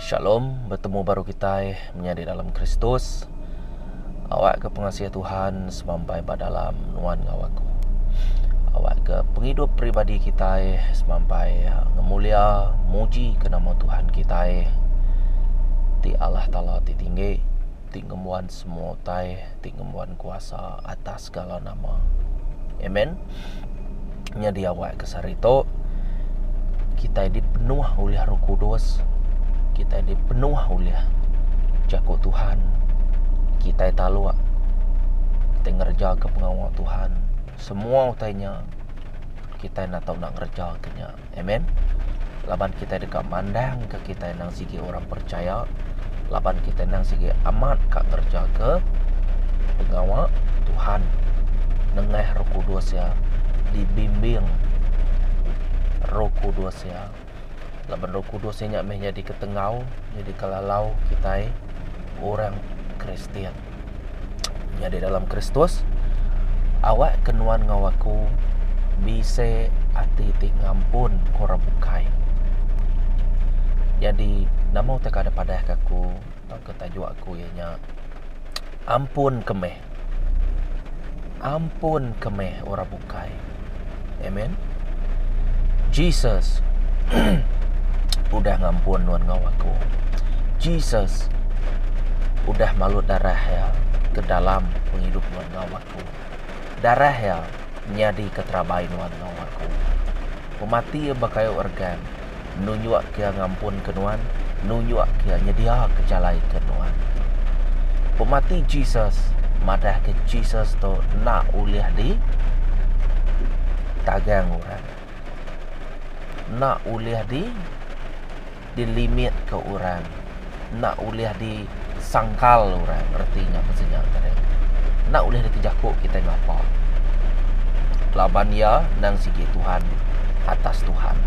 Shalom, betemu baru kitai menyadi dalam Kristus. Awakka pengasih Tuhan semampai ba dalam nuan enggau aku. Awakka pengidup peribadi kitai semampai ngemulia mujika nama Tuhan kitai ti Allah Taala ti tinggi, ti ngembuan semua utai, ti ngembuan kuasa atas. segala nama. Amen. Nyadi awak ke sehari tu kita dipenuh oleh Roh Kudus, kita dipenuh oleh jaku Tuhan, kita taluk kita ngereja ke pengawa Tuhan, semua utai nya kita nak tau nak ngereja ke nya. Amen. Laban kitai deka mandangka kitai endang sigi orang percaya, laban kitai endang sigi amat ka ngerejaga pengawa Tuhan nengah Roh Kudus iya dibimbing Roh Kudus iya. Laban Roh Kudus iya nya meh nyadi ketenggau, nyadi kelalau kitai orang Kristian. Nyadi dalam Kristus, awakka nuan enggau aku bisi ati ti ngampun ke orang bukai. Nyadi nama utai ke dipadahka aku tauka tajuk aku iya nya Ampunka meh. Ampun ke meh orang bukai. Amen. Jesus udah ngampun nuan enggau aku. Jesus udah malut darah iya ke dalam pengidup nuan enggau aku. Darah iya nyadika terabai nuan enggau aku. Pemati iya ba kayu organ. nunjuk Iya ngampunka nuan, nunjuk Iya nyediaka jalai ke nuan. Pemati Jesus madahka Jesus tu enda ulih di tagang orang. Enda ulih di di limit ke orang. enda ulih disangkal orang reti nya ke sida tadi. Enda ulih dikejaku kitai ngapa. Laban iya endang sigi Tuhan atas Tuhan.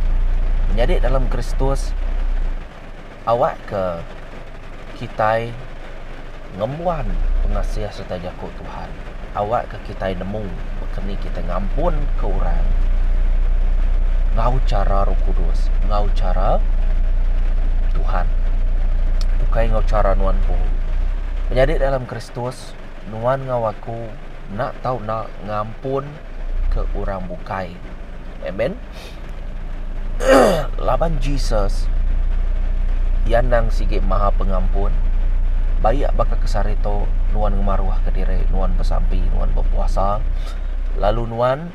Menyadi dalam Kristus awakka kitai ngembuan pengasih sereta jaku Tuhan. Awakka kitai nemu baka ni kitai ngampunka orang enggau chara Roh Kudus, enggau chara Tuhan, ukai enggau chara nuan empu. Menyadi dalam Kristus, nuan enggau aku enda tau enda ngampun. ke orang bukai. Amen. Laban Jesus Iya endang sigi maha pengampun. Bayak baka kesari tu nuan ngemaruh ke diri nuan besampi nuan bepuasa lalu nuan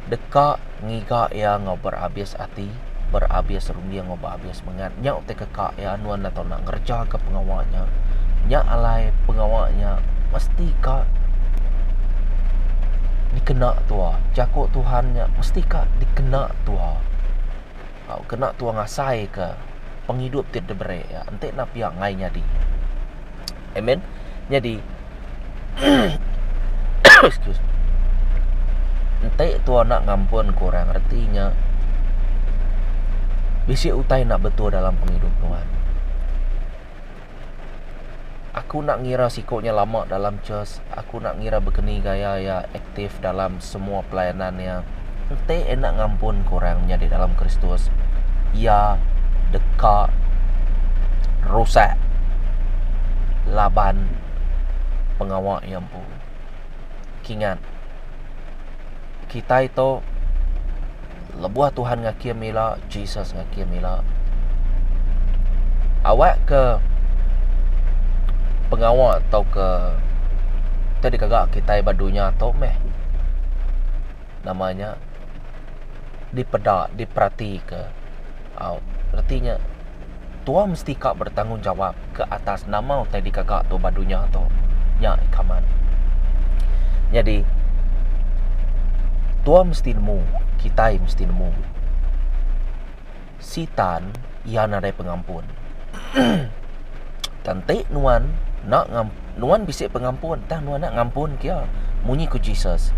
deka ngiga iya enggau berabis ati. berabis runding enggau berabis semengat nya utai ke ka iya nuan enda tau nak ngereja ka pengawa nya, nya alai pengawa nya mesti ka dikena tua jaku tuhan nya mesti ka dikena tua tau kena tua ngasai ka pengidup ti diberi iya enti enda pia angai nyadi amen nyadi Excuse me. Enti tua enda ngampunka orang reti nya bisi utai enda betul dalam pengidup nuan. Aku enda ngira siku nya lama dalam church, aku enda ngira bekeni gaya iya. aktif dalam semua pelayanan iya, enti enda ngampunka orang menyadi dalam Kristus, iya deka rusak laban pengawa iya empu. Kingat, kitai tu. Lebuh Tuhan ngakim ila, Jesus ngakim ila. Awak ke pengawa tauka ke dikaga kitai ba dunya tu meh nama nya dipeda, diperatika. Au reti nya Tua mesti ka bertanggungjawab ke atas nama utai digaga tu ba dunya tu. Nya ikaman. Nyadi tua mesti nemu, kitai mesti nemu. Sitan iya nadai pengampun. Kenti nuan enda ngam nuan bisi pengampun tah nuan enda ngampun kia. Munyi ku Jesus.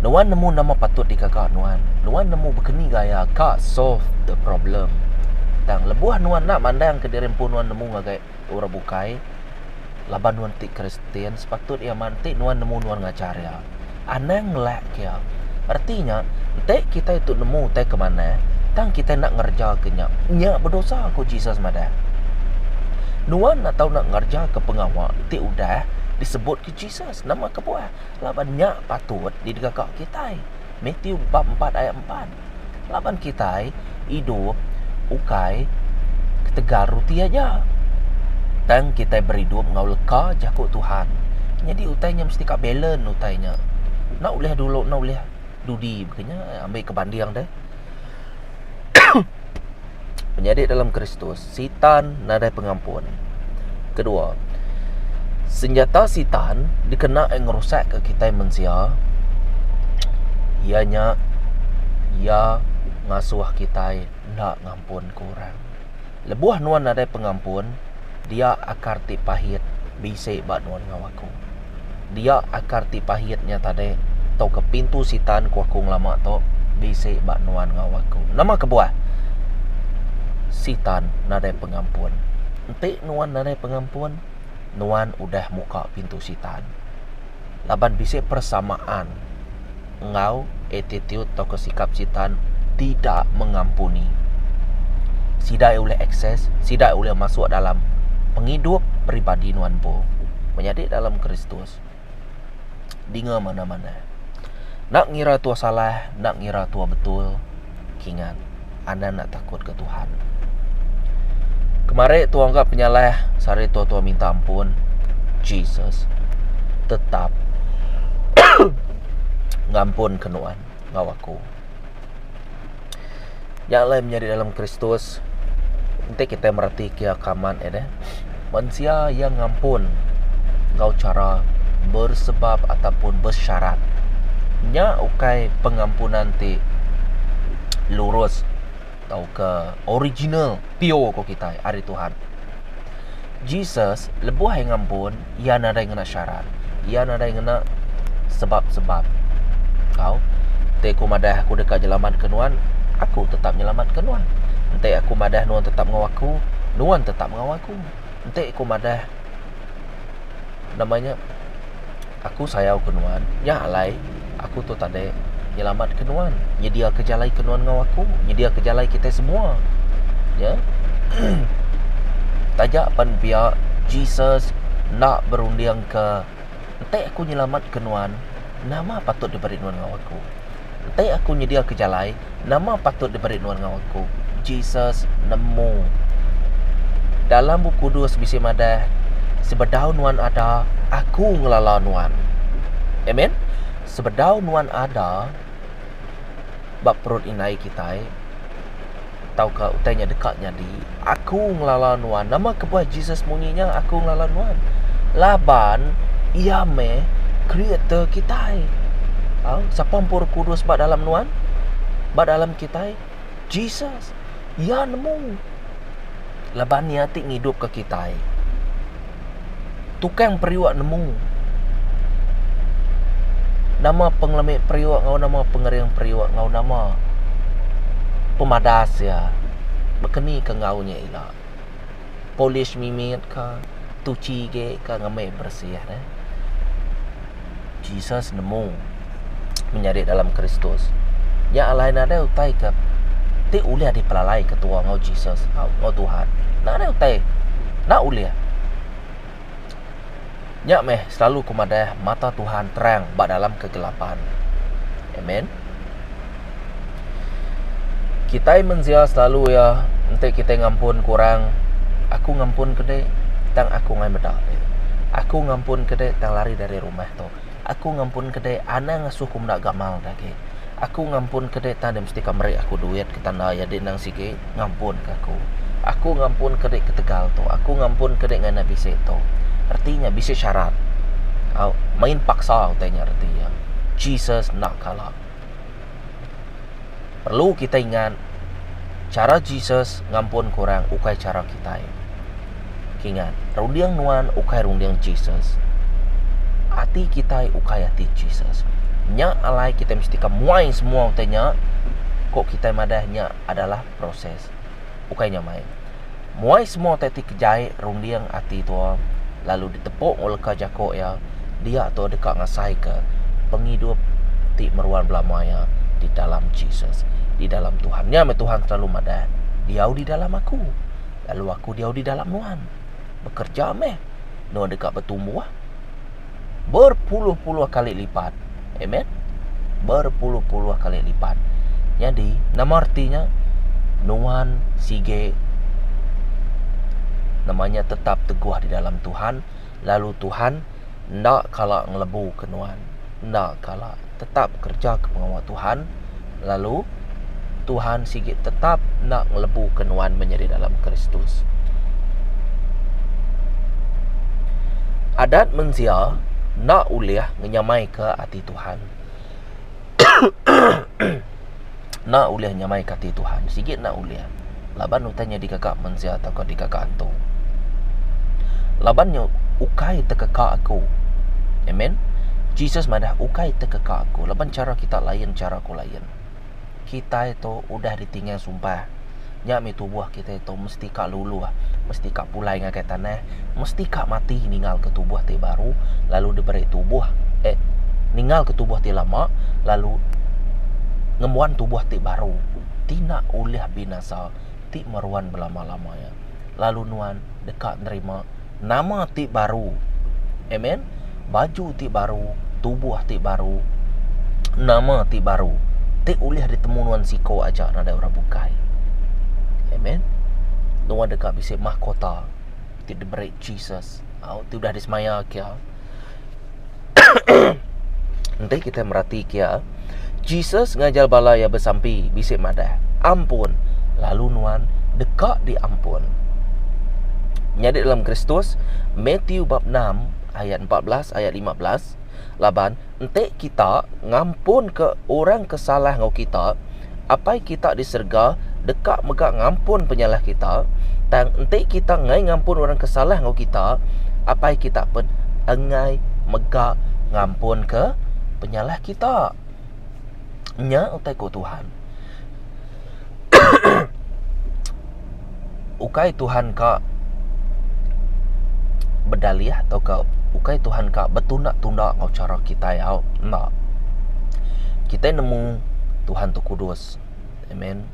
Nuan nemu nama patut digaga nuan. Nuan nemu bekeni gaya ka solve the problem. Tang lebuh nuan enda mandangka diri empu nuan nemu ngagai orang bukai laban nuan ti Kristian, sepatut iya mak enti nuan nemu nuan ngajar iya. Anang ngelak ke iya. Reti nya, enti kitai tu nemu utai ke manah, tang kitai enda ngerejaka nya, nya bedosa, ku Jesus madah. Nuan enda tau enda ngerejaka pengawa ti udah disebut ke Jesus. Nama kebuah? Laban nya patut didegaka kitai. Mathew bab empat ayat empat. Laban kitai idup ukai ketegal ruti aja, tang kitai beridup enggau leka jaku Tuhan. Nyadi utai nya mesti ka balance utai nya. Enda ulih dulu enda ulih dudi baka nya, ambi ke banding deh. Penyadi dalam Kristus. Sitan nadai pengampun. Kedua, senjata Sitan dikena iya ngerusakka kitai mensia iya nya iya ngasuh kitai enda ngampunka orang. Lebuh nuan nadai pengampun, dia akar ti pahit bisi ba nuan ngawa kitai. Aku. Dia akar ti pahit nya tadi tauka pintu sitan ku aku ngelama tu bisi ba nuan enggau aku. Nama kebuah? Sitan nadai pengampun. Enti nuan nadai pengampun, nuan udah muka pintu sitan. Laban bisi persamaan. enggau attitude tauka sikap Sitan sida mengampuni. Sida iya ulih akses, sida iya ulih masuk dalam pengidup peribadi nuan empu menyadi dalam Kristus dinga manah-manah. Enda ngira tua salah, enda ngira tua betul. Kingat, Anang enda takutka Tuhan. Kemari tua engka penyalah sehari tua-tua minta ampun. Jesus tetap ngampun ke nuan ngau aku. Nya alai menyadi dalam Kristus enti kita mereti kia kaman ida. Mensia iya ngampun enggau chara bersebab ataupun besyarat. Nya ukai pengampunan ti lurus tauka original, pure ku kitai ari Tuhan. Jesus lebuh iya ngampun, iya nadai ngena syarat. Iya nadai ngena sebab-sebab. Au, enti aku madah aku deka nyelamatka nuan, aku tetap nyelamatka nuan. Enti aku madah nuan tetap enggau aku, nuan tetap. Enggau aku enti ku madah nama nya aku sayau ke nuan nya alai aku tu tadi nyelamat ke nuan nyedia ke jalai ke nuan enggau aku nyedia ke jalai kitai semua nya taja pan pia Jesus enda berunding ke Enti aku nyelamatka nuan, nama patut diberi nuan enggau aku? Enti aku nyediaka jalai, nama patut diberi nuan enggau aku? Jesus nemu. Dalam Bup Kudus bisi madah, Sebedau nuan ada, aku ngelala nuan. Amen. Sebedau nuan ada ba perut indai kitai, tauka utai nya deka nyadi, aku ngelala nuan. Nama kebuah Jesus munyi nya aku ngelala nuan? Laban iya meh creator kitai. Au, sapa empu Roh Kudus ba dalam nuan? Ba dalam kitai? Jesus. Iya nemu. Laban iya ti ngidupka kitai. Tukang periuk nemu nama pengelemi periuk enggau nama pengering periuk enggau nama pemadas iya bekenika enggau nya ila. Polish mimit ka, tuchi agi ka ngambi bersih ne. Jesus nemu menyadi dalam Kristus. Nya alai nadai utai ke ti ulih dipelalai ketua enggau Jesus, enggau Tuhan. Nadai utai. Enda ulih. Nya meh selalu ku madah mata Tuhan terang ba dalam kegelapan. Amen. Kitai mensia selalu iya enti kitai ngampun ke orang, aku ngampun ke dek tang aku angai meda dek, aku ngampun ke dek tang lari dari rumah tu, aku ngampun ke dek anang ngasuh aku meda gamal agi, aku ngampun ke dek tang deh mesti ka meri aku duit ke tanda iya deh endang sigi. ngampunka aku. Aku ngampunka dek ketegal tu, aku ngampunka dek ngena bisi tu. Reti nya bisi syarat. Au, main paksa utai nya reti iya. Jesus enda kala. Perlu kitai ingat, chara Jesus ngampunka orang ukai chara kitai. Kingat, runding nuan ukai runding Jesus. Ati kitai ukai ati Jesus. Nya alai kitai mesti ka muai semua utai nya, ku kitai madah nya. adalah proses, ukai nyamai. Muai semua utai ti kejai runding ati tua lalu ditepuk enggau leka jaku iya, dia tu deka ngasaika pengidup ti meruan belama iya di dalam Jesus, di dalam Tuhan. Nya meh Tuhan selalu madah, Diau di dalam Aku, lalu Aku diau di dalam nuan. Bekereja meh nuan deka betumbuh. Berpuluh-puluh kali lipat. Amen. Berpuluh-puluh kali lipat. Nyadi, nama reti nya? Nuan sige nama nya tetap teguh di dalam Tuhan lalu Tuhan enda kala ngelebuka nuan. Enda kala. tetap bekerejaka pengawa Tuhan, lalu Tuhan sigi tetap enda ngelebuka nuan menyadi dalam Kristus. Adat mensia enda ulih ngenyamaika ati Tuhan. Enda ulih nyamaika ati Tuhan. Sigi enda ulih. Laban utai nya dikaka mensia tauka dikaka antu. Laban nya ukai tekeka aku. Amen. Jesus madah ukai tekeka aku laban chara kita lain chara aku lain. Kitai tu udah ditinggal sumpah. Nya mih tubuh kitai tu mesti ka luluh, mesti ka pulai ngagai tanah, mesti ka mati ninggalka tubuh ti baru lalu diberi tubuh eh ninggalka tubuh ti lama lalu ngembuan tubuh ti baru ti enda ulih binasa ti meruan belama-lama iya. Lalu nuan deka nerima. nama ti baru. Amen. Baju ti baru, tubuh ti baru, nama ti baru. Ti ulih ditemu nuan siko aja nadai orang bukai. Amen. Nuan deka bisi mahkota ti diberi Jesus. Au ti udah disemaya kia. Enti kitai meratika iya, Jesus ngajar bala iya besampi bisi madah, Ampun, lalu nuan deka diampun. Nyadi dalam Kristus, Mathew bab 6 ayat 14 ayat 15, Laban enti kita ngampunka orang ke salah enggau kita, Apai kita di serega deka mega ngampun penyalah kita, tang enti kita enggai ngampun orang ke salah enggau kita, Apai kita pun enggai mega ngampunka penyalah kita. Nya utai ku Tuhan. ukai Tuhan ka bedalih tauka ukai Tuhan ka betunda-tunda enggau chara kitai hau. Enda. Kitai nemu Tuhan tu kudus. Amen.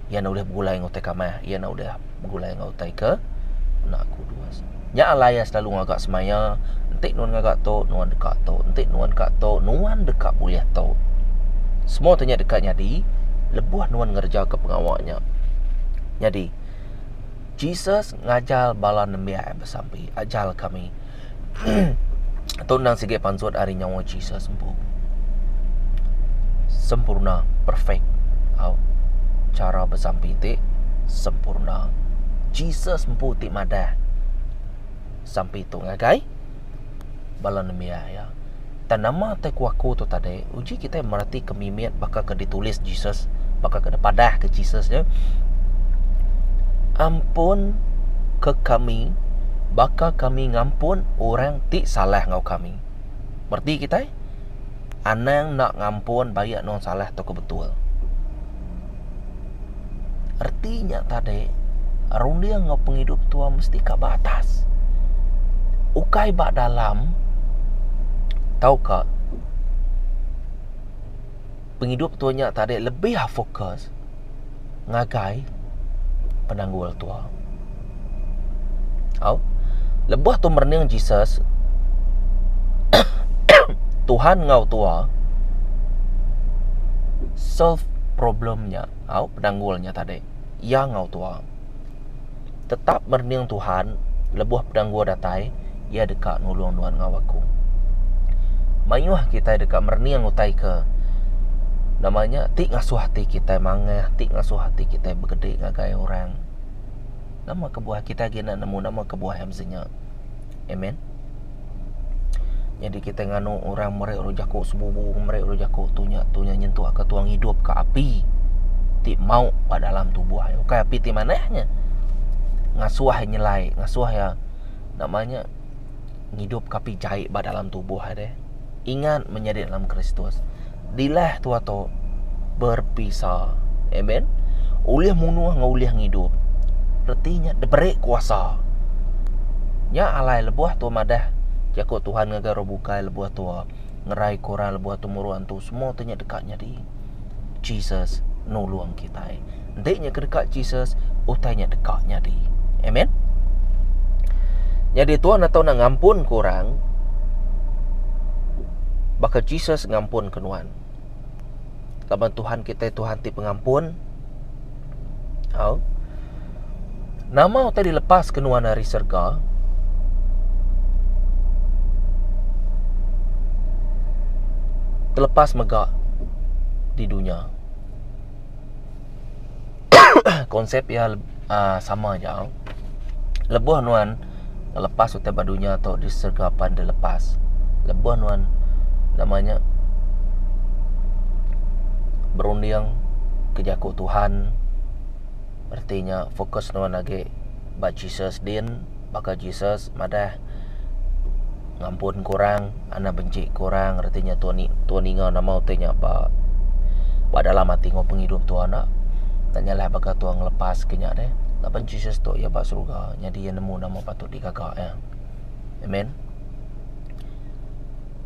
Iya enda ulih begulai enggau utai kamah, iya enda ulih begulai enggau utai ke enda kudus. Nya alai iya selalu ngaga semaya, Enti nuan ngaga tu, nuan deka tu. Enti nuan ka tu, nuan deka bulih tu. Semua tu nya deka nyadi lebuh nuan ngereja ke pengawa nya. Nyadi, Jesus ngajar bala nembiak iya besampi, Ajal kami. Entu endang sigi pansut ari nyawa Jesus empu. Sempurna, perfect. Au. Chara besampi ti sempurna. Jesus empu ti madah sampi tu ngagai bala nembiak iya. Tang nama ti aku-aku tu tadi, uji kitai meratika mimit baka ke ditulis Jesus, baka ke dipadahka Jesus nya, Ampunka kami baka kami ngampun orang ti salah enggau kami. Mereti kitai? Anang enda ngampun baik enun salah tauka betul. reti nya tadi runding enggau pengidup tua mesti ka ba atas ukai ba dalam tauka pengidup tua nya tadi lebih fokus ngagai penanggul tua. Au. Lebuh tu merening Jesus, Tuhan enggau tua solve problem nya, au, penanggul nya tadi. Iya enggau tua tetap merening Tuhan lebuh penanggul datai, iya deka nulung nuan enggau aku. Mayuh kitai deka merening utai ke nama nya ti ngasuh ati kitai mangah, ti ngasuh ati kitai begedi ngagai orang. Nama kebuah kita agi enda nemu nama kebuah iya mesti nya. Amen. Nyadi kita nganu orang meri orang jaku sebubu, meri orang jaku tu nya tu nya nyentuk ke tuang hidup ke api ti mau ba dalam tubuh ai. Ukai api ti manah nya. Ngasuh ai nyelai, ngasuh ya nama nya ngidup ke api jai ba dalam tubuh ai deh. Ingat menyadi dalam Kristus. dilah tua tu berpisa. Amen. Ulih munuh enggau ulih ngidup. Reti nya diberi kuasa. Nya alai lebuh tu madah jaku Tuhan ngagai orang bukai lebuh tu ngerai ke orang lebuh tu muru antu semua tu nya deka nyadi. Jesus nulung kitai. Enti nya ke deka Jesus, utai nya deka nyadi. Amen. Nyadi Tuhan atau nak ngampun ke orang, baka Jesus ngampun ke nuan. Laban Tuhan kita Tuhan ti pengampun. Au. Nama utai dilepas ke nuan dari serga? Terlepas mega di dunia. Konsep iya sama aja. Lebuh nuan lepas utai ba dunya tu di serega pan deh lepas. Lebuh nuan nama nya berunding ke jaku Tuhan reti nya fokus nuan agi ba Jesus din. Baka Jesus madah, Ngampun ke orang, anang benci ke orang, reti nya tua tua ninga nama utai nya ba ba dalam ati enggau pengidup tua enda. Enda nyalah baka tua ngelepas ke nya deh. Laban Jesus tu iya ba suruga, nyadi iya nemu nama patut digaga iya. Amen.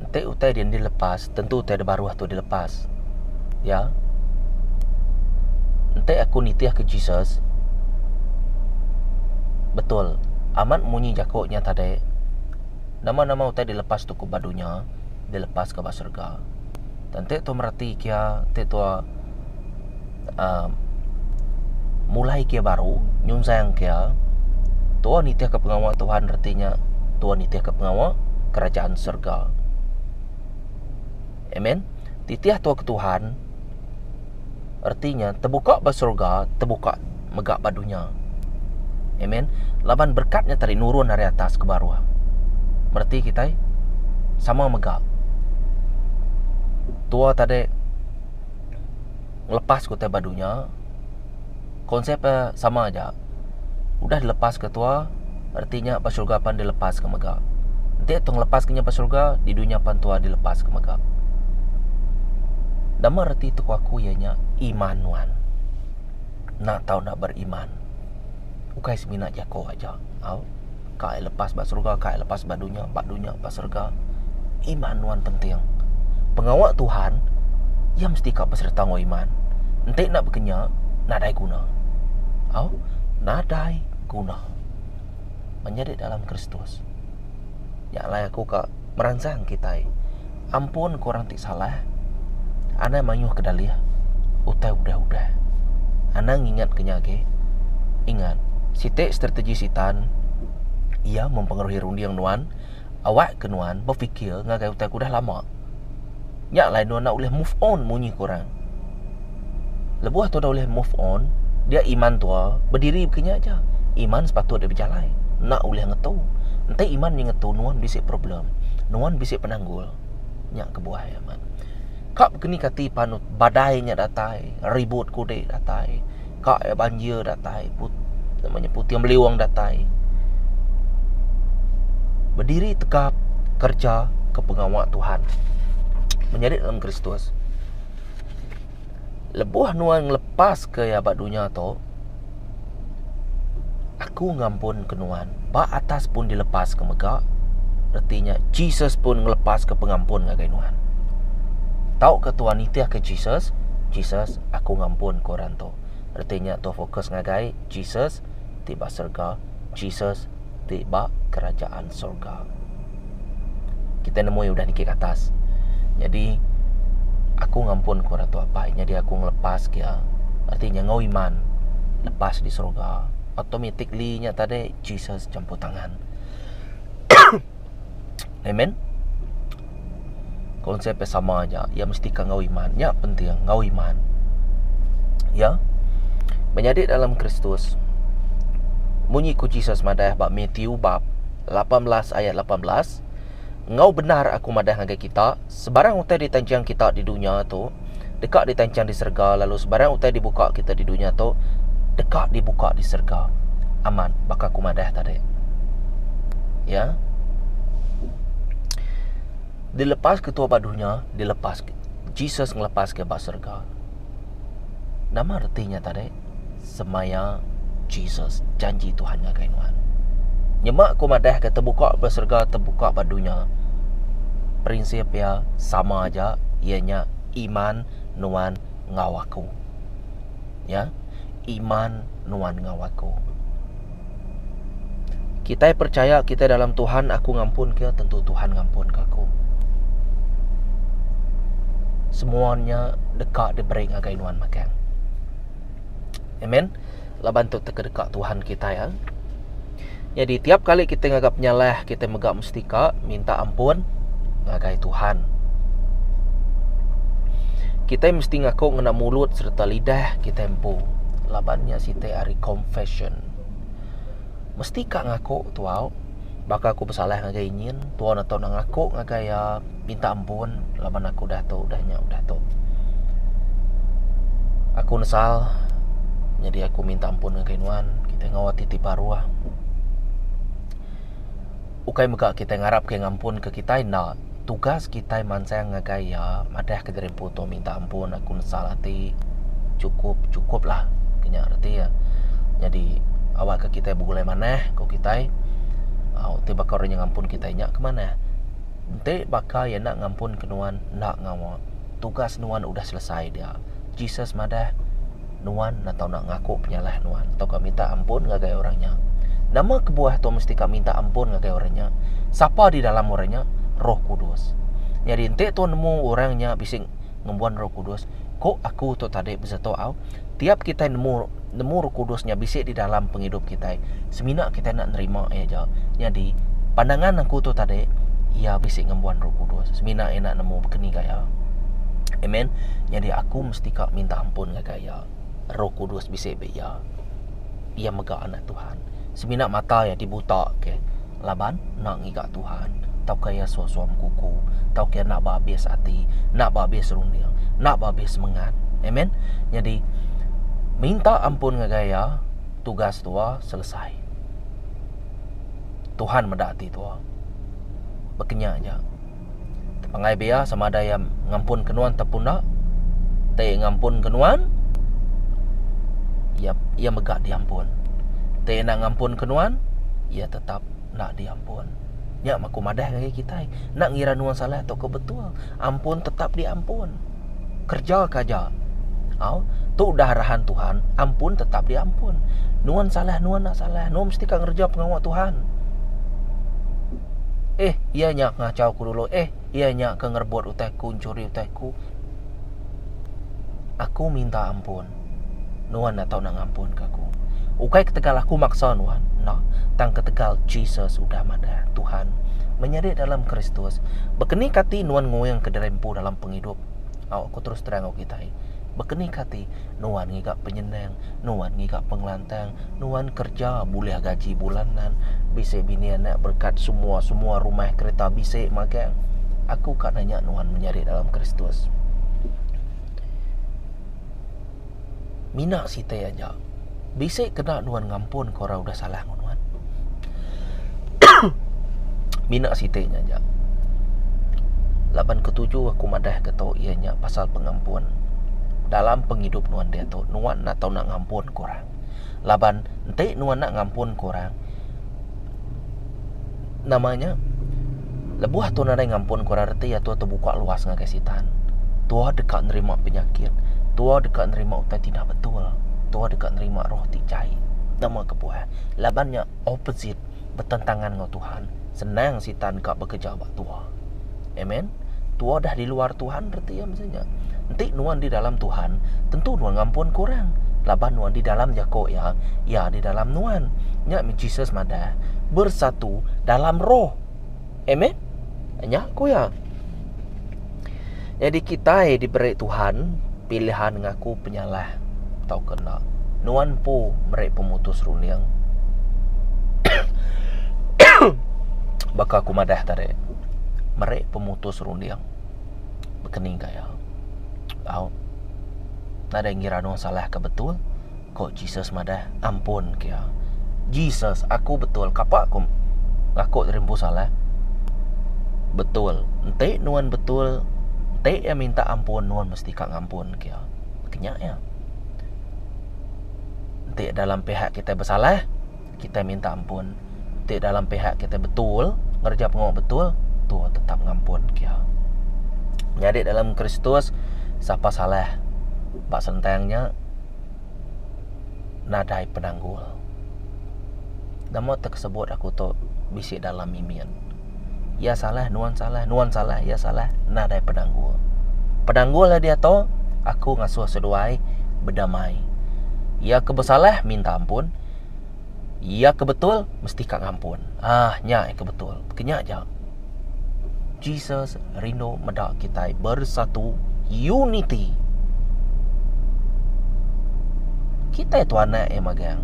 Enti utai dia enda dilepas, tentu utai da baruh tu dilepas. Ya. Enti aku nitihka Jesus, betul amat munyi jaku nya tadi, nama-nama utai dilepas tu ku ba dunya, dilepaska ba serega. Enti tua mereti kia, enti tua um mulai kia baru, nyunzang kia, tua nitihka pengawa Tuhan reti nya, tua nitihka pengawa Kerajaan Serega. Amen. Titih tua ke Tuhan. Reti nya tebuka ba serega, tebuka mega ba dunya. Amen. Laban berkat nya tadi nurun ari atas ke baruh. Mereti kitai sama mega. Tua tadi ngelepas ke utai ba dunya, konsep eh sama aja. udah dilepas ke tua reti nya ba surga pan dilepas ke mega enti tu ngelepas ke nya ba surga di dunya pan tua dilepas ke mega nama reti tu ku aku iya nya iman nuan enda tau enda beriman ukai semina jako aja au. Kai lepas ba serega, kai lepas ba dunya, ba dunya ba serega. Iman nuan penting. Pengawa Tuhan iya mesti ka besereta enggau iman. Enti enda bekenya, nadai guna. Au, nadai guna. Menyadi dalam Kristus. Nya alai aku ka meransang kitai. Ampunka orang Salah. Anang mayuh ke dalih utai udah-udah. Anang ngingat ke nya agi. Ingat, siti strategi Sitan iya mempengaruhi runding nuan awak ke nuan befikir ngagai utai ke udah lama. Nya alai nuan enda ulih move on munyi ke orang. Lebuh tua enda ulih move on, dia iman tua bediri baka nya aja. Iman sepatut dia bejalai, enda ulih ngetu. Enti iman mih ngetu nuan bisi problem, nuan bisi penanggul. Nya kebuah amat. Ka bekeni kati panut badai nya datai, ribut kudi datai, ka iya banjir datai, nama nya puting beliung datai. Bediri tegap kereja ke pengawa Tuhan. Menyadi dalam Kristus. Lebuh nuan ngelepaska iya ba dunya tu, aku ngampunka nuan ba atas pun dilepaska mega, reti nya Jesus pun ngelepaska pengampun ngagai nuan. Tauka tuan nitihka Jesus, Jesus aku ngampunka orang tu. Reti nya tuan fokus ngagai Jesus ti ba serega, Jesus ti ba kerajaan serega. kita nemui udah niki ke atas nyadi aku ngampun ku ratu apai nyadi aku ngelepas ke iya reti nyengau iman lepas di sorga automatically nya tadi Jesus champuh tangan amen. Konsep iya sama aja, iya mesti ka enggau iman. Nya penting, enggau iman. Ya. Menyadi dalam Kristus. Munyi ku Jesus madah ba Matthew bab 18 ayat 18, enggau bendar aku madah ngagai kita, sebarang utai ditanjung kita di dunya tu, deka ditanchang di serega lalu sebarang utai dibuka kita di dunya tu deka dibuka di serega. Amat baka aku madah tadi. Ya. Dilepas ke tua ba dunya, dilepas Jesus ngelepas ke ba serega. Nama reti nya tadi? semaya Jesus janji Tuhan ngagai nuan. Nyema aku madah ke tebuka ba serega tebuka ba dunya. Prinsip ia sama aja ia nya iman nuan enggau aku. Ya. Iman nuan enggau aku. Kitai percaya kitai dalam Tuhan aku ngampun ke tentu Tuhan ngampun ke aku. Semua nya deka diberi ngagai nuan magang. Amen. Laban tu teka deka Tuhan kitai. Eh. Jadi tiap kali kita ngaga penyalah, kita mega Setika minta ampun ngagai Tuhan. Kita mesti ngaku ngena mulut serta lidah kita empu. Laban nya siti ari confession. Mesti ka ngaku tu au. Baka aku besalah ngagai nyin, tuan atau nak ngaku ngagai ia minta ampun laban aku dah tu dah nya dah tu. Aku nesal jadi aku minta ampun ngagai nuan. Kita ngau ati ti baruh. Ukai mega kitai ngarap ke ngampun ke kitai enda, tugas kitai mansang ngagai iya madah ke diri empu tu minta ampun aku nesal ati chukup chukup lah ke nya reti iya. Nyadi awak ke kitai begulai manah ko kitai au ti baka orang nya ngampun kitai nya ke manah enti baka iya enda ngampun ke nuan enda ngawa tugas nuan udah selesai dia. Jesus madah. nuan enda tau nak ngaku penyalah nuan tauka minta ampun ngagai orang nya. Nama kebuah tu mesti ka minta ampun ngagai orang nya? Sapa di dalam orang nya? Roh Kudus. Nyadi enti tu nemu orang nya bisi ngembuan Roh Kudus, ku aku tu tadi besetu au, tiap kitai nemu nemu Roh Kudus nya bisi di dalam pengidup kitai, semina kitai enda nerima iya aja. Nyadi pandangan aku tu tadi iya bisi ngembuan Roh Kudus semina iya enda nemu bekeni gaya. Amen. Nyadi aku Mesti ka minta ampun ngagai iya. Roh Kudus bisi ba iya. Iya mega anak Tuhan. Semina mata iya dibuta ke laban enda ngiga Tuhan tauka iya suah-suah bekuku tauka iya enda behabis ati, enda behabis runding, enda behabis semengat. Amen. Nyadi minta ampun ngagai iya tugas tua selesai. Tuhan meda ati tua. Ba kenyah aja. Tepangai bia sama ada iya ngampunka nuan tauka enda. Ti ngampunka nuan iya iya mega diampun. Ti enda ngampunka nuan iya tetap enda diampun. Nya maku madah ngagai kitai. Enda ngira nuan salah tauka betul, ampun tetap diampun. Kerja ke aja. Au, tu udah arahan Tuhan, ampun tetap diampun. Nuan salah, nuan enda salah. Nuan mesti ka ngereja pengawa Tuhan. Eh, iya nya ke ngachau aku dulu. Eh, iya nya ke ngerebut utai aku, nchuri utai aku. Aku minta ampun. Nuan enda tau nak ngampunka aku. Ukai ketegal aku maksa nuan, enda, tang ketegal Jesus udah madah Tuhan menyedik dalam Kristus. Bekenika ati nuan nguingka diri empu dalam pengidup. Au aku terus terang enggau kitai, bekenika ati nuan ngiga penyenang, nuan ngiga pengelantang, nuan kereja bulih gaji bulanan, bisi bini anak berekat semua-semua rumah kereta bisi magang. Aku ka nanya nuan menyadi dalam Kristus. Mina sitai aja. Bisi kena nuan ngampun ke orang udah salah ngen nuan. Mina sitai nya aja. Laban ketuju aku madah ke tu iya nya pasal pengampun. Dalam pengidup nuan diatu, nuan enda tau nak ngampun ke orang. Laban enti nuan enda ngampun ke orang, nama nya lebuh tu nadai ngampun ku orang reti iya tu tebuka luas ngagai sitan. Tuoh deka nerima penyakit, tuoh deka nerima utai ti dah betul, tuoh deka nerima roh ti jai. Nama kebuah? Laban nya opposite, betentangan enggau Tuhan. Senang sitan ka bekereja ba tuoh. Amen. Tua dah di luar Tuhan reti iya mesti nya. Enti nuan di dalam Tuhan, tentu nuan ngampunka orang laban nuan di dalam jaku iya, iya di dalam nuan. Nya meh Jesus madah, bersatu dalam roh. Amen. Nya ku iya. Nyadi kitai diberi Tuhan pilihan ngaku penyalah tauka enda. Nuan empu meri pemutus runding. Baka aku madah tadi, meri pemutus runding bekening gaya. Au. Nadai ngira nuan salah ke betul. Ko Jesus madah, Ampunka iya. Jesus, aku betul kapa aku ngaku diri empu salah? Betul, enti nuan betul, enti iya minta ampun nuan mesti ka ngampunka iya. Kenya iya. Enti dalam pihak kitai besalah, Kitai minta ampun ti dalam pihak kitai betul, ngereja pengawa betul, Tuha tetap ngampun kia. Nyadi dalam Kristus, sapa salah ba sentang nya nadai penanggul. Nama tekesebut aku tu bisi dalam mimin. Iya salah, nuan salah, nuan salah, iya salah, nadai penanggul. Penanggul iya diatu, aku ngasuh seduai bedamai. Iya ke besalah minta ampun, iya ke betul mesti ka ngampun. Ah nya iya ke betul. Kenya ja. Jesus rindu meda kitai bersatu, unity. Kitai tu anak iya magang.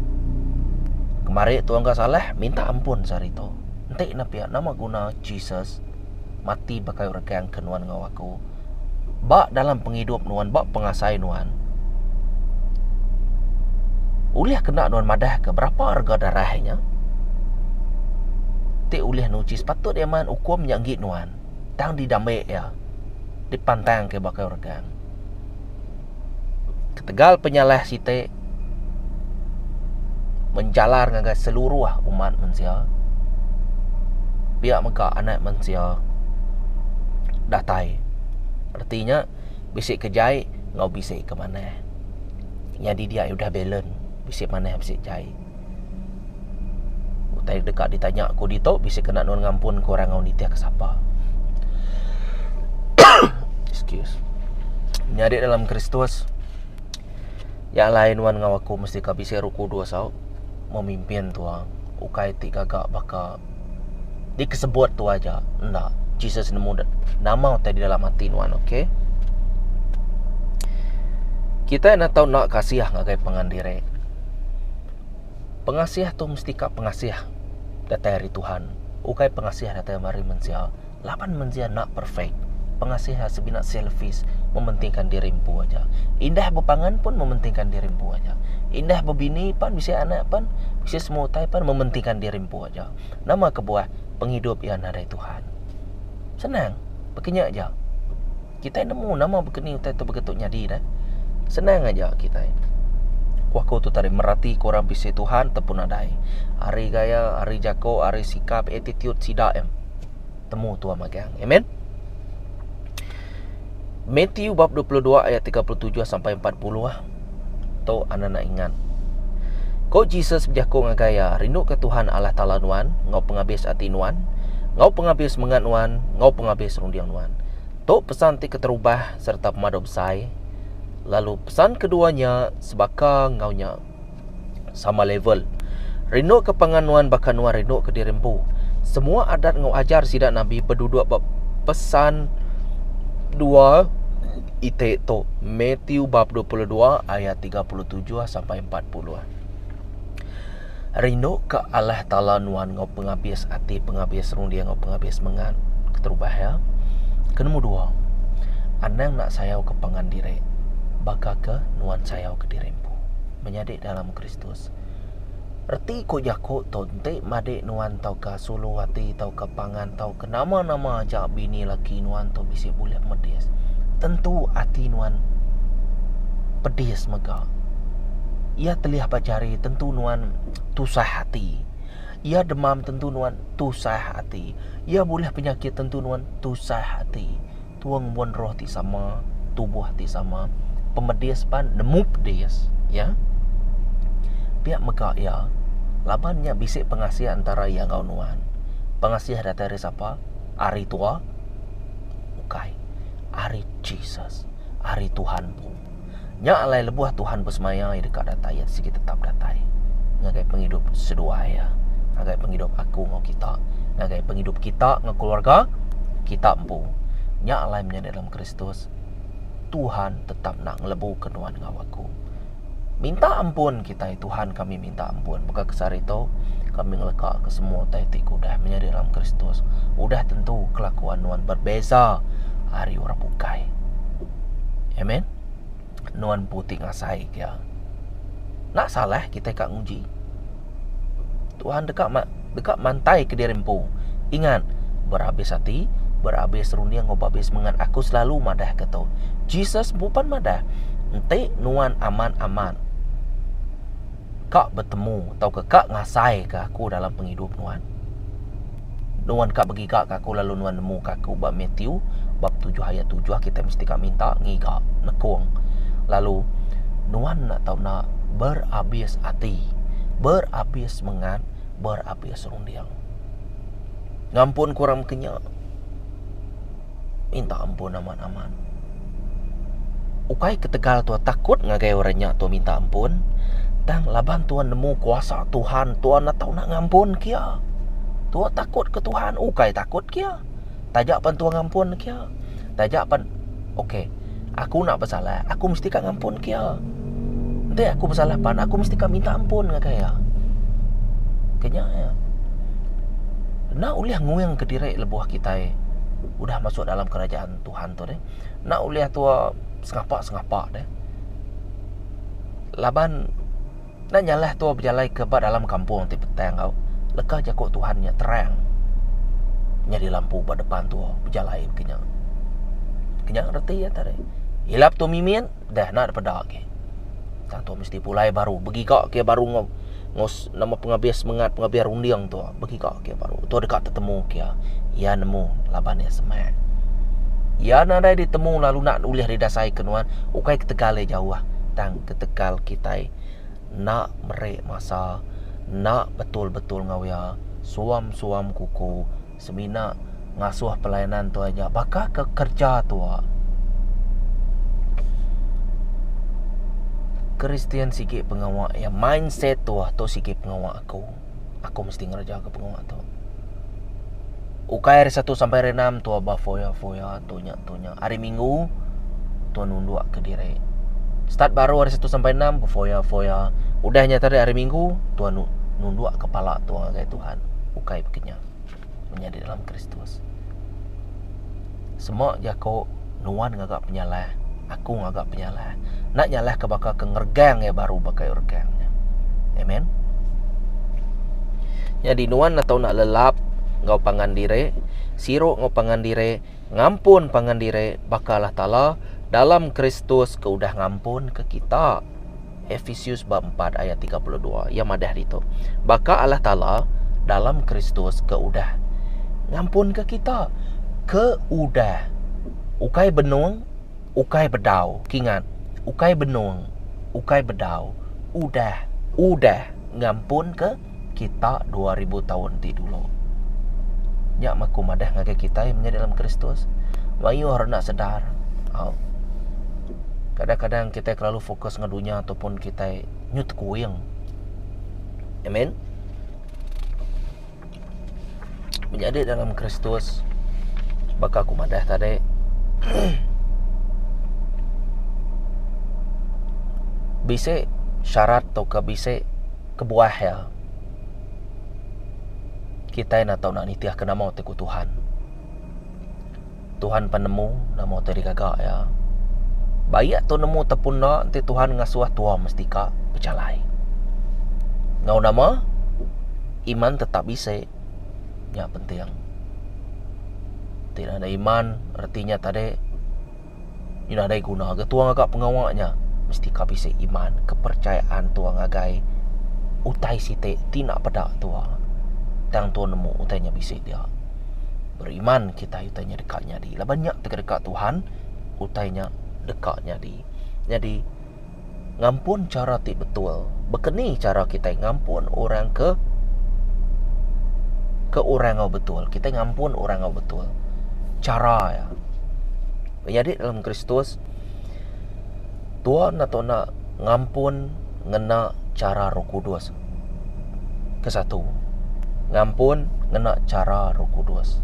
Kemari tu engka salah, minta ampun sehari tu. Enti ne pia nama guna Jesus mati ba kayu regang ke nuan enggau aku ba dalam pengidup nuan ba pengasai nuan ulih kena nuan madah ke berapa rega darah inya ti ulih nuchi sepatut iya maan ukum nya enggi nuan tang di dame iya di pantang ke ba kayu regang. Ketegal penyalah siti menjalar ngagai seluruh umat mensia, pia mega Anak Mensia datai. Reti nya bisi ke jai enggau bisi ke manah. Nyadi dia udah balance, bisi manah bisi jai. Utai deka ditanya aku ditu bisi kena nuan ngampun ke orang enggau nitih ke sapa. Excuse. Nyadi dalam Kristus Yak alai nuan enggau aku mesti ka bisi Roh Kudus au memimpin tua ukai ti gaga baka Di kesebut tu aja. Enda. Jesus nemu nama utai di dalam ati nuan. Okey. Kita enda tau enda kasih ngagai pangan diri. Pengasih tu mesti ka pengasih datai ari Tuhan. Ukai pengasih datai ari mensia. Laban mensia enda perfect, pengasih a sebina selfish, mementingkan diri empu aja. Indah bepangan pun mementingkan diri empu aja. Indah bebini pan bisi anak pan, bisi semua utai pan mementingkan diri empu aja. Nama kebuah pengidup iya nadai Tuhan. Senang, baka nya aja. Kitai nemu nama bekeni utai tu begetu nyadi deh. Senang aja kitai. Ku aku tu tadi merati ke orang bisi Tuhan te pun nadai. Ari gaya, ari jako, ari sikap, attitude sida em. Temu tua magang. Amen. Matthew bab 22 ayat 37 sampai 40. Tu an enda ingat. Ko Jesus bejaku ngagai iya, Rinduka Tuhan Allah Taala nuan enggau pengabis ati nuan, enggau pengabis mengat nuan, enggau pengabis runding nuan. Tu pesan ti keterubah sereta pemadu besai, lalu pesan kedua nya sebaka enggau nya. sama level. Rinduka pangan nuan baka nuan rinduka diri empu. Semua adat enggau ajar sida nabi beduduk ba Pesan dua iti tu, Matthew bab dua puluh dua ayat tiga puluh tujuh sampai empat puluh. Rinduka Allah Taala nuan enggau pengabis ati, pengabis runding enggau pengabis mengat. Keterubah iya. Ke nombor dua, anang enda sayauka pangan diri baka ke nuan sayauka diri empu. menyadi dalam Kristus. Reti ku jaku tu enti madi nuan tauka sulu ati tauka pangan tauka nama-nama aja bini laki nuan tu bisi bulih medis. Tentu ati nuan pedis mega. Iya telih ba jari tentu nuan tusah ati. Iya demam tentu nuan tusah ati. Iya bulih penyakit tentu nuan tusah ati. Tuong mun roh ti sama, tubuh ti sama, pemedis pan nemu pedis, ya. Pia mega iya, laban nya bisi pengasih antara iya enggau nuan. Pengasih datai ari sapa? Ari tua? Ukai. Ari Jesus. Ari Tuhan empu. Nya alai lebuh Tuhan besemaya iya deka datai iya sigi tetap datai ngagai pengidup seduai iya ngagai pengidup aku enggau kita ngagai pengidup kita enggau keluarga kita empu. Nya alai menya di dalam Kristus Tuhan tetap enda ngelebuka nuan enggau aku. Minta ampun kitai Tuhan kami. Minta ampun. Baka ke sehari tu, kami ngelekaka semua utai ti ke udah menyadi dalam Kristus. Udah tentu kelakuan nuan berbeza ari orang bukai. Amen. Nuan empu ti ngasaika iya. Enda salah kitai ka nguji. Tuhan deka deka mantaika diri empu. Ingat, berabis ati, berabis runding enggau berabis semangat. Aku selalu madahka tu. Jesus empu pan madah, Enti nuan amat-amat, ka betemu tauka ka ngasaika aku dalam pengidup nuan. Nuan ka begigaka aku lalu nuan nemuka aku ba Matthew bab tujuh ayat tujuh kitai mesti ka minta, ngiga, nekung. Lalu nuan enda tau enda berabis ati, berabis semengat, berabis runding. Ngampun ku orang mekenya. minta ampun amat-amat. Ukai ketegal tuan takut ngagai orang nya tuan minta ampun, tang laban tuan nemu kuasa Tuhan, tuan enda tau nak ngampun ke iya. Tuan takut ke Tuhan, ukai takut ke iya. Taja pan tuan ngampun ke iya, taja pan okey. Aku nak besalah, aku mesti ka ngampunka iya. Enti aku besalah pan, aku mesti ka minta ampun ngagai iya. Kenya iya. Enda ulih nguingka diri lebuh kitai udah masuk dalam kerajaan Tuhan tu deh. Enda ulih tua sengapa-sengapa deh. Laban Enda nyalah tua bejalai ke ba dalam kampung ti petang enggau leka jaku Tuhan nya terang nyadi lampu ba depan tua bejalai mega nya. Kenya reti iya tadi. Ilap tu mimin dah enda ada peda agi. Tang tu mesti pulai baru begiga ke baru ngau ngau nama pengabih semangat pengabih runding tu. begiga kia baru tu deka tetemu kia iya nemu laban iya semak iya nadai ditemu lalu enda ulih didasaika nuan ukai ketegal iya jauh tang ketegal kitai enda meri masa enda betul-betul enggau iya suam-suam kuku semina ngasuh pelayanan tu aja baka ke kerja tu Kristian sigi pengawa iya mindset tu sigi pengawa aku. Aku mesti ngerejaka pengawa tu. Ukai hari satu sampai hari enam tu abah foya-foya tu nya tu nya. Hari minggu tu nunduk ke diri. Start baru hari satu sampai enam foya-foya. Udah nya tadi hari minggu tu nunduk kepala tu ngagai Tuhan. Ukai bekenya. menyadi dalam Kristus. Sema jaku nuan ngaga penyalah, aku ngaga penyalah. Enda nyalah ke baka ke ngeregang iya baru baka iya regang. Amen. Jadi nuan nak tahu nak lelap ngau pangan diri, siru ngau pangan diri, ngampun pangan diri baka Allah Taala dalam Kristus ke udah ngampun ke kita. Ephesus bab 4 ayat 32. Ia madah ditu. Baka Allah Taala dalam Kristus ke udah ngampunka kita. Ke udah. Ukai benung, ukai bedau. Kingat, ukai benung, ukai bedau. Udah. Udah ngampunka kita dua ribu taun ti dulu. Nya mah aku madah ngagai kita menyadi dalam Kristus, mayuh ra enda sedar. Au. Kadang-kadang kita kelalu fokus enggau dunya ataupun kita nyu tekuing. Amen. Menyadi dalam Kristus baka aku madah tadi. Bisi syarat tauka bisi kebuah iya, kitai enda tau nak nitihka nama ti ku Tuhan. Tuhan pan nemu nama ti digaga iya. Ba iya tu nemu tepun enda enti Tuhan ngasuh tua mesti ka bejalai. Enggau nama? Iman tetap bisi. Nya penting. Ti ngagai iman reti nya tadi Ina dai guna ga tua ngaga pengawa nya mesti ka bisi iman kepercayaan tua ngagai utai siti ti enda peda tua tang tua nemu utai nya bisi dia. Beriman kitai utai nya deka nyadi laban nya tega deka Tuhan utai nya deka nyadi. Nyadi. ngampun chara ti betul. Baka ni chara kitai ngampun orang ke ke orang enggau betul. Kitai ngampun orang enggau betul. Chara iya. Menyadi dalam Kristus Tuhan atu enda ngampun ngena chara Roh Kudus. ke satu ngampun ngena chara roh kudus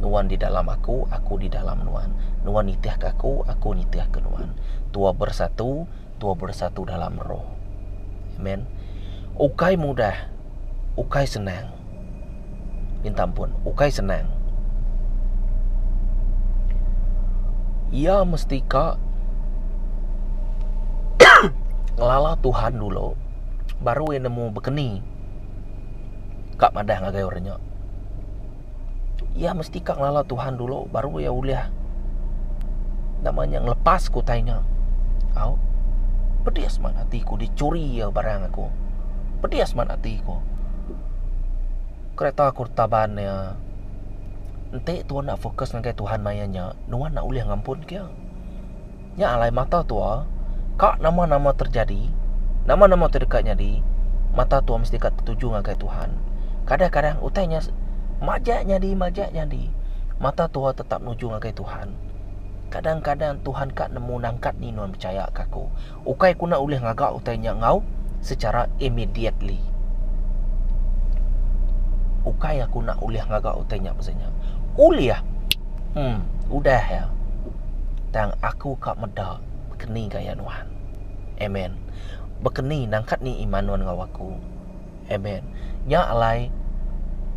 nuan di dalam aku aku di dalam nuan nuan nitih ke aku aku nitih ke nuan tua bersatu tua bersatu dalam roh amen ukai mudah ukai senang. Minta ampun ukai senang. Iya mesti ka ngelala Tuhan dulu baru iya nemu bekeni ka madah ngagai orang nya. Iya mesti ka ngelala Tuhan dulu baru iya ulih nama nya ngelepas ke utai nya. Au pedis mah ati ku dicuri iya barang aku. Pedis mah ati ku. Kereta aku retak ban iya. Enti tau enda focus ngagai Tuhan maya nya, nuan enda ulih ngampun kia. Nya alai mata tua, ka nama-nama terjadi, nama-nama tu deka nyadi, mata tua mesti deka tertuju ngagai Tuhan. Kadang-kadang utai nya majak nyadi majak nyadi, mata tua tetap nuju ngagai Tuhan. Kadang-kadang Tuhan ka nemu nangkat ni nuan pechaya ka aku. ukai ku enda ulih ngaga utai nya enggau sechara immediately. Ukai aku enda ulih ngaga utai nya pasal nya. Ulih. Hmm, udah ya. Tang aku ka meda keni gaya nuan. Amen. Bekeni nangkat ni iman nuan enggau aku. Amen. Nya alai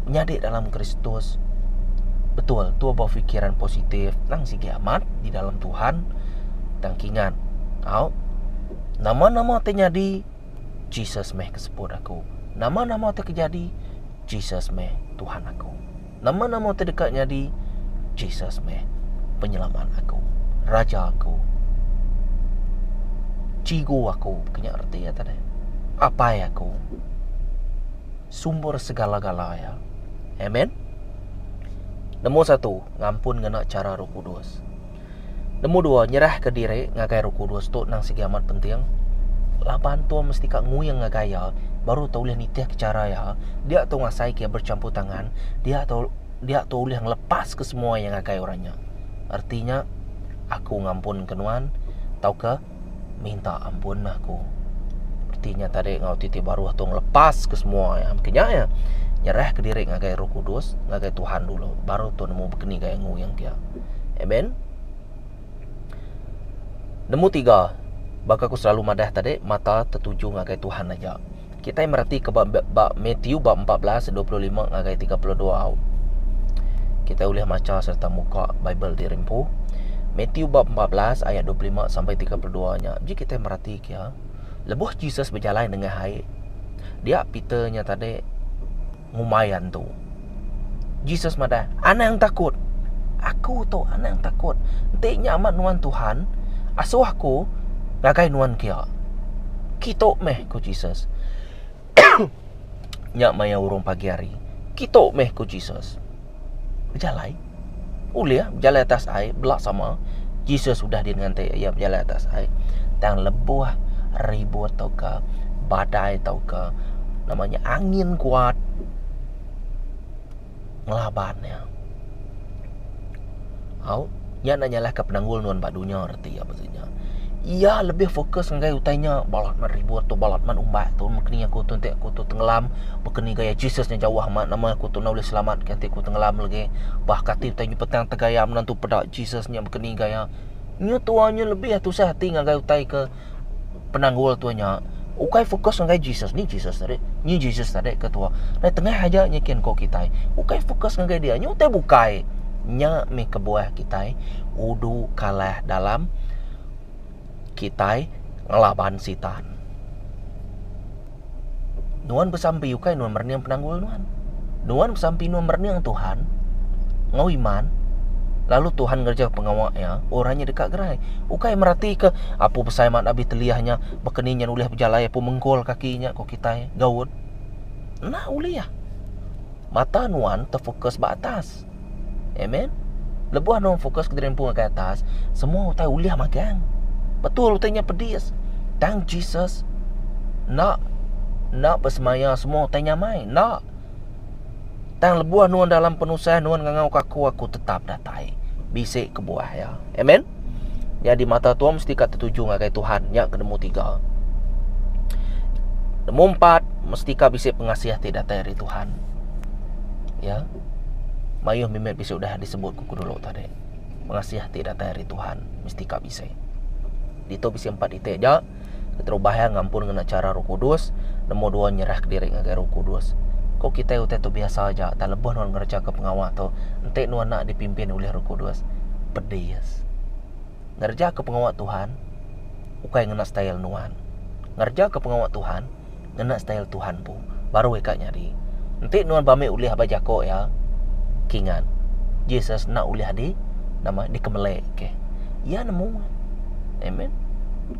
nyadi dalam Kristus betul tu befikiran positif nang sigi amat di dalam Tuhan tang kingat au nama-nama ti nyadi Jesus meh ke sebut aku nama-nama ti kejadi Jesus meh Tuhan aku. Nama-nama ti deka nyadi, Jesus meh penyelamat aku, Raja aku, Chigu aku, ke nya reti iya tadi, Apai aku, Sumber segala-gala iya. Amen. Nombor satu, ngampun ngena chara Roh Kudus. Nemu dua, nyerahka diri ngagai Roh Kudus tu nang sigi amat penting. Laban tu mesti ka nguing ngagai Iya baru tau ulih nitihka chara Iya, dia tau ngasaika Iya berchampur tangan, dia tau dia tau ulih ngelepaska semua iya ngagai orang nya. Erti nya, aku ngampunka nuan tauka Minta ampun lah aku. Reti nya tadi enggau ti ti baruh tu ngelepas ke semua ya. Mungkin nya ya. Nyerah ke diri ngagai Roh Kudus, ngagai Tuhan dulu, baru tu nemu begini gaya nguyang kia. Amen. Nemu tiga, baka aku selalu madah tadi, mata tetuju ngagai Tuhan aja. Kitai meratika ba ba Matiu bab empat belas dua puluh lima ngagai tiga puluh dua au. Kitai ulih macha sereta muka Bible ti rimpu. Matiu bab empat belas ayat dua puluh lima sampai tiga puluh dua nya biji kitai meratika iya. Lebuh Jesus bejalai nengah ai, dia Peter nya tadi ngumbai iya ento. Jesus madah, Anang takut! Aku tu, anang takut! Enti nya amat nuan Tuhan, asuh aku ngagai nuan kia. Kitu meh, ku Jesus. nya maya urung pagi hari. Kitu meh, ku Jesus. bejalai ulih bejalai atas ai bela sama Jesus udah din nganti iya bejalai atas ai tang lebuh ribut tauka badai tauka nama nya angin kuat ngelaban iya au nya enda nyalahka penanggul nuan ba dunya reti. reti apa sida nya. Iya lebih fokus ngagai utai nya balat mat ribut tu balat mat umbak tu meh kini aku tu enti aku tu tengelam meh keni gaya Jesus nya jauh amat nama aku tu enda ulih selamat ke enti ku tengelam legi bah kati utai nya petang tegaya menantu peda Jesus nya meh keni gaya. Nya tuai nya lebih tusah ati ngagai utai ke penanggul tua nya ukai fokus ngagai Jesus ni Jesus tadi ni Jesus tadi ke tua dai tengah aja nyikin ko kitai ukai fokus ngagai dia nyu utai bukai nya mih kebuah kitai udu kalah dalam kitai ngelaban sitan. Nuan besampi ukai nuan merening penanggul nuan. Nuan besampi nuan merening Tuhan ngau iman lalu Tuhan ngereja pengawa iya, orang nya deka gerai. Ukai meratika apu besai mat abis teliah nya baka ni nya ulih bejalai apu menggol kaki nya ko kitai gaud. Enda ulih. Mata nuan tefokus ba atas. Amen. Lebuh anu fokus ke diri empu ngagai atas, semua utai ulih magang. Betul utai nya pedis. Tang Jesus nak nak besemaya semua utai nyamai. Nak. Tang lebuh nuan dalam penusah nuan ngangau ke aku, aku tetap datai. Bisi kebuah ya. Amen. Nya di mata tuan mesti ka tertuju ngagai Tuhan. Nya ke nemu tiga. Nemu empat, mesti ka bisi pengasih ti datai ari Tuhan. Ya. Mayuh mimit bisi udah disebut ku kedulu tadi. Pengasih ti datai ari Tuhan mesti ka bisi. Ditu bisi empat iti aja, keterubah iya ngampun ngena chara Roh Kudus, nombor dua nyerahka diri ngagai Roh Kudus. Ko kitai utai tu biasa aja tang lebuh nuan ngerejaka pengawa tu enti nuan enda dipimpin ulih Roh Kudus, pedis. Ngerejaka pengawa Tuhan ukai ngena style nuan. Ngerejaka pengawa Tuhan. ngena style Tuhan empu baru ika nyadi. Enti nuan bami ulih aba jako iya kingat Jesus enda ulih adi nama dikemeleke. Iya nemu. Amen.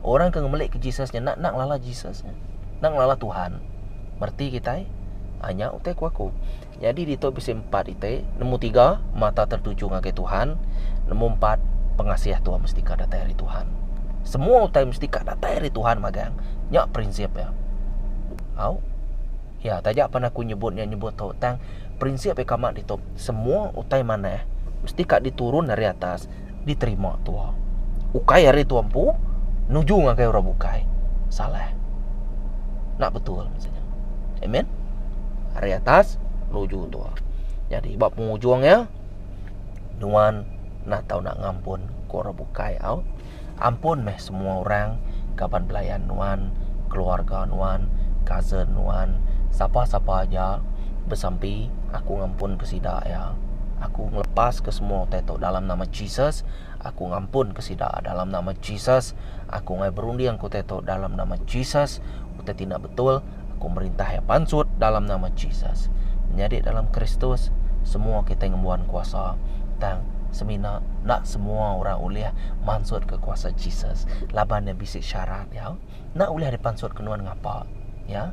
Orang ke ngemeleke Jesus nya enda ngelala Jesus nya. Enda ngelala Tuhan. Mereti kitai? Nya utai ku aku. Nyadi ditu bisi empat iti, nemu tiga, mata tertuju ngagai Tuhan, nemu empat, pengasih tu mesti ka datai ari Tuhan. Semua utai mesti ka datai ari Tuhan magang, nya prinsip iya. Au. Ya, taja pan aku nyebut nya nyebut tu, tang prinsip iya ka mak ditu, semua utai manah mesti ka diturun ari atas diterima tua. Ukai ari tua empu nuju ngagai orang bukai. Salah. Nak betul maksudnya. Amen. Ari atas nuju tua. Jadi ba pengujung ya nuan nak tau nak ngampun ke orang bukai au. Ampun meh semua orang, kaban belayan nuan, keluarga nuan, cousin nuan, sapa-sapa aja besampi, aku ngampunka sida iya. Aku ngelepaska semua utai tu dalam nama Jesus, aku ngampunka sida dalam nama Jesus. Aku ngai berundingka utai tu dalam nama Jesus, utai ti enda betul. Aku merintah iya pansut dalam nama Jesus. Menyadi dalam Kristus, semua kitai ngembuan kuasa. Tang, semina enda semua orang ulih mansutka kuasa Jesus laban iya bisi syarat iya. Enda ulih dipansutka nuan ngapa? Ya.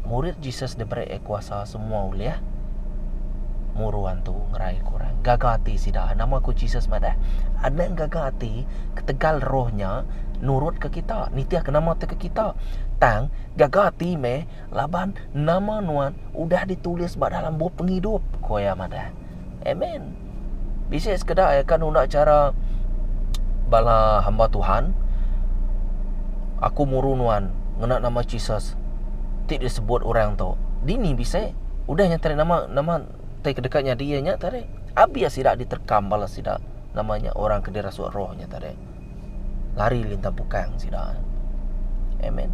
Murid Jesus diberea kuasa. Semua ulih muru antu ngeraika orang. Gaga ati sida. Nama ku Jesus madah, Anang gaga ati ketegal roh nya nurutka kita, nitihka nama tauka kita. Tang, gaga ati meh laban nama nuan udah ditulis ba dalam Bup Pengidup, ku iya madah. Amen. Bisi sekeda iya ke nunda chara bala hamba Tuhan. Aku muru nuan ngena nama Jesus ti disebut orang tu. Dini bisi? Udah nya tadi nama nama ti kedeka nyadi iya nya tadi. Abih sida diterkam bala sida nama nya orang ke dirasuk roh nya tadi. lari lintang pukang sida. Amen.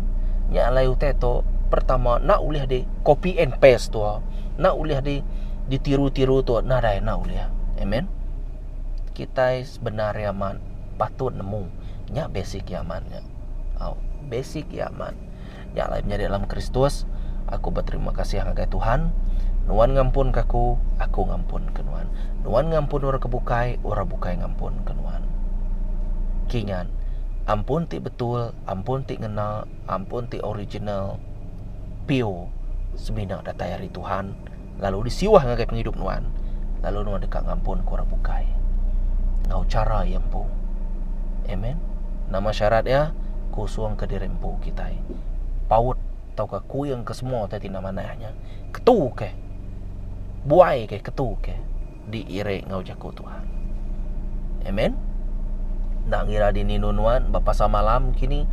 Nya alai utai tu pertama nak ulih di copy and paste tu. Nak ulih di ditiru-tiru tu nadai nak ulih. Amen. Kitai sebenar ri amat patut nemu nya basic nya amat nya. Au. Basic nya amat. Nya alai menyadi dalam Kristus, aku beterima kasih ngagai Tuhan, Nuan ngampunka aku, aku ngampunka nuan. Nuan ngampun orang ke bukai, orang bukai ngampunka nuan. Kinggan, ampun ti betul, ampun ti ngena, ampun ti original, pure, semina datai ari Tuhan. lalu disiwah ngagai pengidup nuan, lalu nuan deka ngampunka orang bukai enggau chara iya empu. Amen. Nama syarat iya? Kusungka diri empu kitai. Paut tauka kuingka semua ti enda manah nya. Ketuka. Buaika ketuka. diiri enggau jaku Tuhan. Amen. Enda ngira dini nun nuan ba pasal malam kini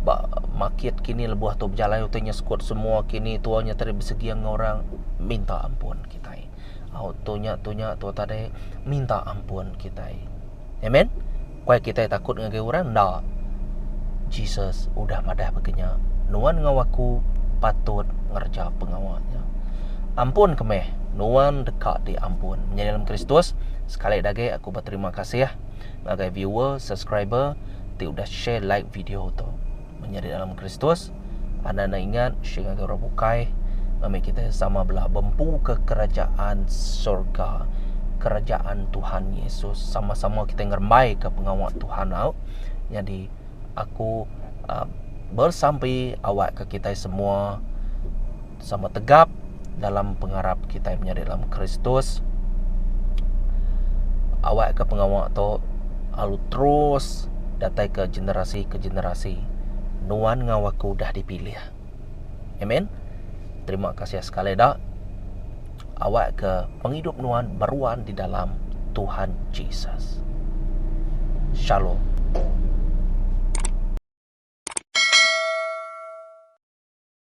ba makit kini lebuh tu bejalai utai nya sekut semua kini tua nya tadi beseging enggau orang minta ampun kitai. Au tu nya tu nya tua tadi minta ampun kitai. Amen. Kuai kitai takut ngagai orang? Enda. Jesus udah madah baka nya, Nuan enggau aku patut ngereja pengawa nya. Ampun ke meh, nuan deka diampun. Menyadi dalam Kristus, sekali agi aku beterima kasih ngagai viewer, subscriber ti udah share like video tu. Menyadi dalam Kristus. Anang enda ingat syie ngagai orang bukai ngambika kita sama bela bempuka kerajaan sorga, kerajaan Tuhan Yesus. Sama-sama kita ngerembaika pengawa Tuhan au. Nyadi aku besampi awakka kitai semua sama tegap dalam pengarap kitai menyadi dalam Kristus. Awak ke pengawa tu lalu terus datai ke generasi ke generasi. Nuan enggau aku dah dipilih. Amen. Terima kasih sekali dak. Awak ke pengidup nuan beruan di dalam Tuhan Jesus. Shalom.